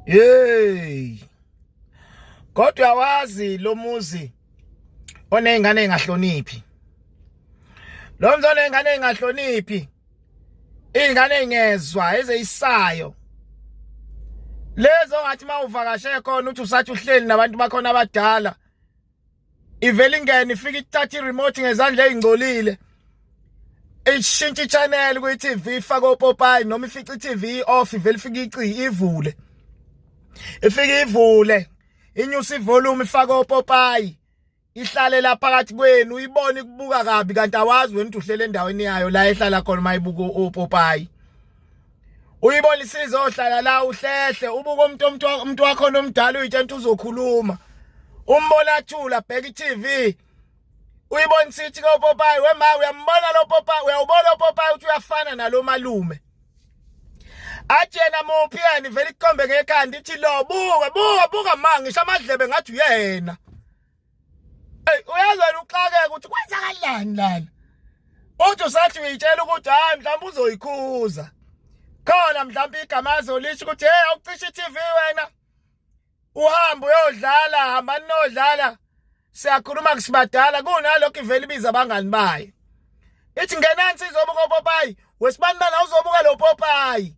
hey kodwa wazi lo muzi onezingane engahloniphi lo mzali engane engahloniphi ingane engezwa ezeyisayo lezo ngathi mawuvakashe khona uthi usathi uhleli nabantu bakhona abadala ivele ingene ifike ithatha i-remote ngezandla ezingcolile ishintsha i-channel kwi-TV ifake opopayi noma ifica i-TV off ivele ifike ici ivule ifike ivule inyusa ivolume ifake opopayi ihlale la phakathi kwenu uyibone kubuka kabi kanti awazi wena uhlele endaweni yayo la ehlala khona mayibuka opopayi uyibona isize ohlala la uhlehle ubuka umuntu umuntu umuntu wakho nomdala uyitshenta uzokhuluma umbona thula bheka iTV uyibona sithi ko Popayi wema uyambona lo Popayi uyawubona lo Popayi uthi uyafana nalo malume athi yena muphi yena vele ikombe ngekhanda ithi lo buka buka buka mangisho amadlebe ngathi uyena Ey uyazi wena uxakeke ukuthi kwenzakalani lana. Uthi usathi uyitshela ukuthi hayi mhlawumbe uzoyikhuza. Khona mhlawumbe igama azolisho ukuthi hey awucisha iTV wena. Uhamba uyodlala hamba ninodlala. Siyakhuluma kusibadala kunalokho ivele ibiza abangani bayo. Ithi ngenani sizobuka uPopayi. Wesibani bana uzobuka lo Popayi.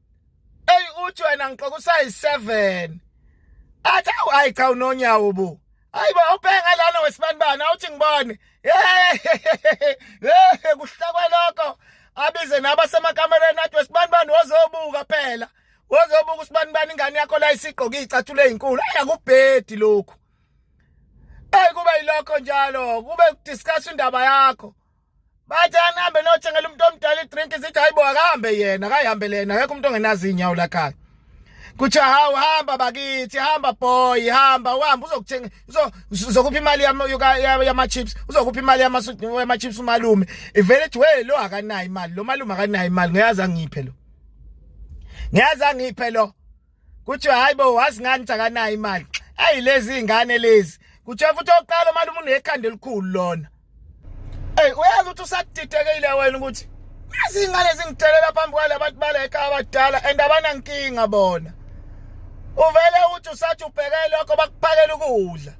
eyi uthi wena ngiqoka usayi-seven athi awu ayi cha unonyawo bo hayi ba ubhenga lana wesibanibani awuthi ngibone kuhlakwe lokho abize nabasemakamereni athi wesibanibani wozobuka phela wozobuka usibanibani ingane yakho la isigqoke iy'cathulo ey'nkulu ayi akubhedi lokhu eyi kube yilokho njalo kube kudiscuss indaba yakho bathi anihambe nothengela umuntu omdala idrink sithi hayibo akahambe yena akayihambele yena akekho umuntu ongenazi iy'nyawo lakhaya kuthiwa hawu hamba bakithi hamba boy hamba uhamba uzokuthenga uzokupha imali yama-chips uzokupha imali yama-chips umalume ivele ethi we lo akanayo imali lo malume akanayo imali ngiyazi angiphe lo ngiyazi angiphe lo kuthiwa hayi bo wazi ngani sakanayo imali eyi lezi ingane lezi kuthiwa futhi oqala uma umuntu ekhanda elikhulu lona eyi uyazi ukuthi usadidekile wena ukuthi yazi ingane zingithelela phambi kwale abantu bala ekhaya abadala and abanankinga bona uvele uthi usathi ubheke lokho bakuphakela ukudla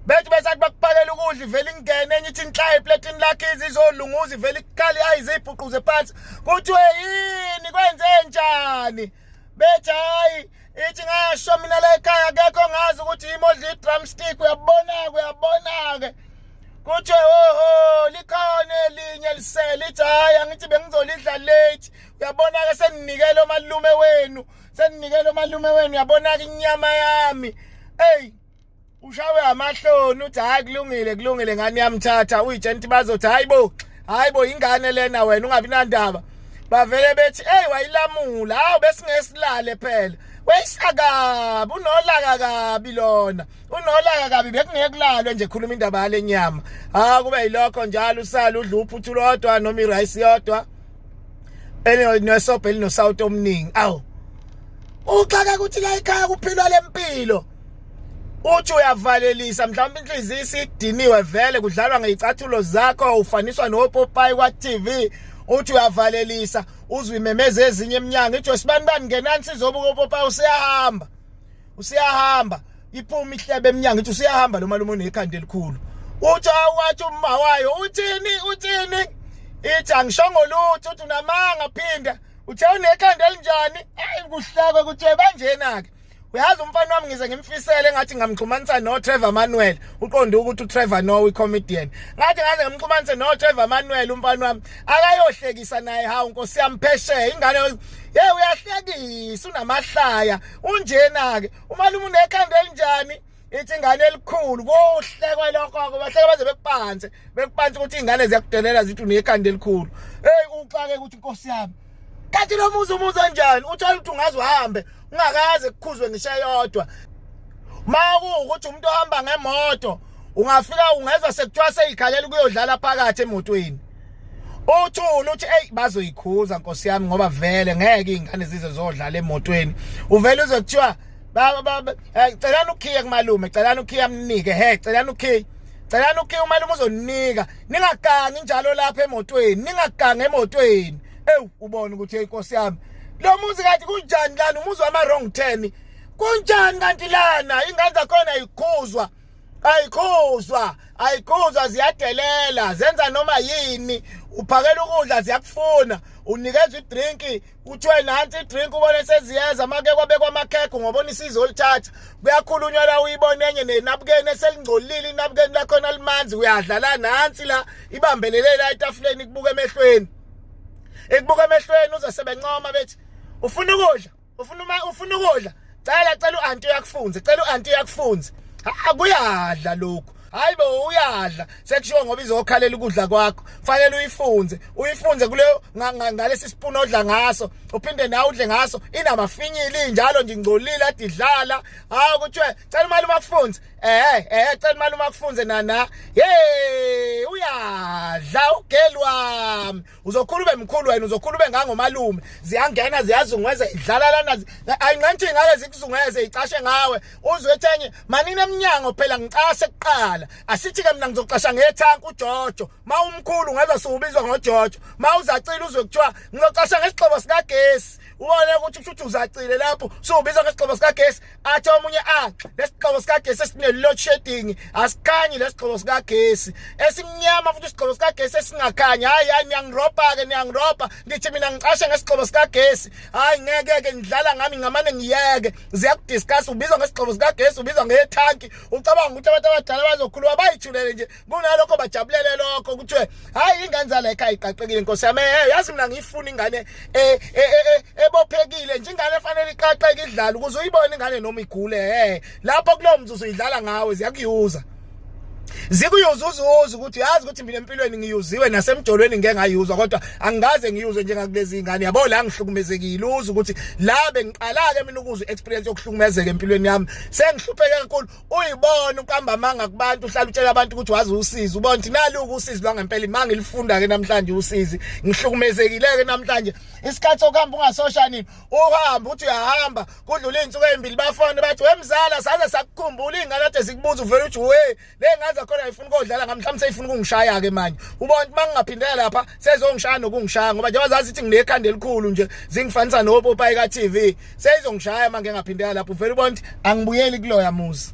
bethi besathi bakuphakela ukudla ivele ingene enye ithi inhlaya epletini lakhe izizolunguza ivele ikhali ayizibhuquze phansi kuthiwe yini kwenze njani bethi hayi ithi ngasho mina la ekhaya akekho ngazi ukuthi yimi odla i-drumstick uyabona-ke uyabona-ke kuthiwe oho likhona elinye elisele ithi hhayi angithi bengizolidla late uyabona-ke seninikele omalume wenu seninikele omalume wenu uyabona-ke inyama yami eyi ushawe amahloni uthi hayi kulungile kulungile ngani yamthatha uyijenti bazothi hayi bo hayi bo ingane lena wena ungabi nandaba bavele bethi hey wayilamula hawu besingesilale phela weyisakabi unolaka kabi lona unolaka kabi bekungeke kulalwe nje khuluma indaba yale nyama ha kube yilokho njalo usala udla uphuthu lodwa noma irice yodwa elinesobhe elinosawuti omningi awu uxaka ukuthi la ikhaya kuphilwa lempilo uthi uyavalelisa mhlawumbe inhliziyo isidiniwe vele kudlalwa ngeyicathulo zakho ufaniswa nopopayi kwa-tv uthi uyavalelisa uzwe imemeza ezinye eminyango ithi wesibani bani ngenani sizobuka upopayi usiyahamba usiyahamba iphuma ihlebe eminyango ithi usiyahamba lo malume unekhanda elikhulu uthi awathi umma wayo uthini uthini ithi angishongo lutho uthi unamanga phinda uthe unekhanda elinjani ayi kuhlakwe kuthiwe banjena-ke uyazi umfana wami ngize ngimfisele engathi ngamxhumanisa noTrevor Manuel uqonde ukuthi uTrevor no icomedian ngathi ngaze ngimxhumanise noTrevor Manuel umfana wami akayohlekisa naye hawu nkosi yami phesheya ingane ye uyahlekisa unamahlaya unjena ke umalume unekhanda elinjani ithi ingane elikhulu kuhlekwe lokho-ke bahleke baze bekupanse bekupanse ukuthi iy'ngane ziyakudelela zithi unekhanda elikhulu eyi uxake ukuthi inkosi yami kanti lo muzi umuzi onjani uthole ukuthi ungaze uhambe ungakaze kukhuzwe ngisho eyodwa ma kuwukuthi umuntu ohamba ngemoto ungafika ungezwa sekuthiwa seyikhalela ukuyodlala phakathi emotweni uthula uthi eyi bazoyikhuza nkosi yami ngoba vele ngeke iy'ngane zize zodlala emotweni uvele uze kuthiwa Baba baba eh, celani ukhiya kumalume celani ukhiya amnike he celani ukhiya celani ukhiya umalume uzoninika ningagangi njalo lapha emotweni ningagangi emotweni ewu ubona ukuthi inkosi yami lo muzi kanti kunjani lana umuzi wama wrong turn kunjani kanti lana ingane zakhona ayikhuzwa ayikhuzwa ayikhuzwa ziyadelela zenza noma yini uphakela ukudla ziyakufuna unikezwa idrinki kuthiwe nansi idrink ubone seziyeza make kwabekwa amakhekho ngobona isizo olithatha kuyakhulunywa la uyibona enye nenabukeni eselingcolile inabukeni lakhona limanzi uyadla la nansi la ibambelele la etafuleni ikubuka emehlweni ikubuka emehlweni uze sebencoma bethi ufuna ukudla ufuna uma ufuna ukudla cela cela uanti uyakufunza cela uanti uyakufunza akuyadla lokhu hayi bo uyadla sekushiwo ngoba izokhalela ukudla kwakho fanele uyifunze uyifunze kule ngalesi spoon odla ngaso uphinde nawe udle ngaso inamafinyili njalo nje ingcolile adidlala hawu kuthiwe cela imali uma kufunze eh eh cela imali uma kufunze nana hey uyadla ugeli wami uzokhula ube mkhulu wena uzokhula ube ngangomalume ziyangena ziyazungweza idlala lana ayinqanthi ngale zikuzungweze icashe ngawe uzwe ethenye manini emnyango phela ngicashe kuqala asithi ke mina ngizoqasha ngethank uJojo mawumkhulu ngeza siwubizwa ngoJojo mawuzacila uzwe kuthiwa ngizoqasha ngesixobo sikagesi ubone ukuthi ushuthu uzacile lapho siwubizwa ngesixobo sikagesi athi omunye ah lesigqoko sikagesi esine load shedding asikhanyi lesigqoko sikagesi esimnyama futhi isigqoko sikagesi esingakhanyi hayi hayi niyangiropa ke niyangiropa ngithi mina ngicashe ngesigqoko sikagesi hayi ngeke ke ngidlala ngami ngamane ngiyeke ziyakudiscuss ubizwa ngesigqoko sikagesi ubizwa ngetanki ucabanga ukuthi abantu abadala bazokhuluma bayithulele nje kunalokho bajabulele lokho kuthiwe hayi ingane zala ekhaya iqaqekile nkosi yami eh yazi mina ngiyifuna ingane eh, eh, eh, ebophekile nje ingane efanele iqaqeke idlala ukuze uyibone ingane noma igule eh lapho kulowo mzuzu idlala ngawe ziyakuyuza zikuyuza uzuza ukuthi yazi ukuthi mina empilweni ngiyuziwe nasemjolweni ngeke ngayuzwa kodwa angikaze ngiyuzwe njengakulezi zingane yabo la ngihlukumezekile uza ukuthi la bengiqala ke mina ukuzwa experience yokuhlukumezeka empilweni yami sengihlupheke kakhulu uyibona ukamba amanga kubantu uhlala utshela abantu ukuthi wazi usizi ubona ukuthi naluku usizi lwangempela imanga ilifunda ke namhlanje usizi ngihlukumezekile ke namhlanje isikhathi sokuhamba ungasoshanini uhamba uthi uyahamba kudlula izinsuku ezimbili bafone bathi wemzala saze sakukhumbula ingane ade sikubuza uvela uthi we lengaza khona ifuna kodlala ngamhlanje seyifuna ukungishaya ke manje ubona ukuthi mangingaphindela lapha sezongishaya nokungishaya ngoba njengoba zazi ithi nginekhanda elikhulu nje zingifanisa nopopayi ka-tv seyizongishaya uma ngingaphindela lapho uvele ubona ukuthi angibuyeli kuloya muzi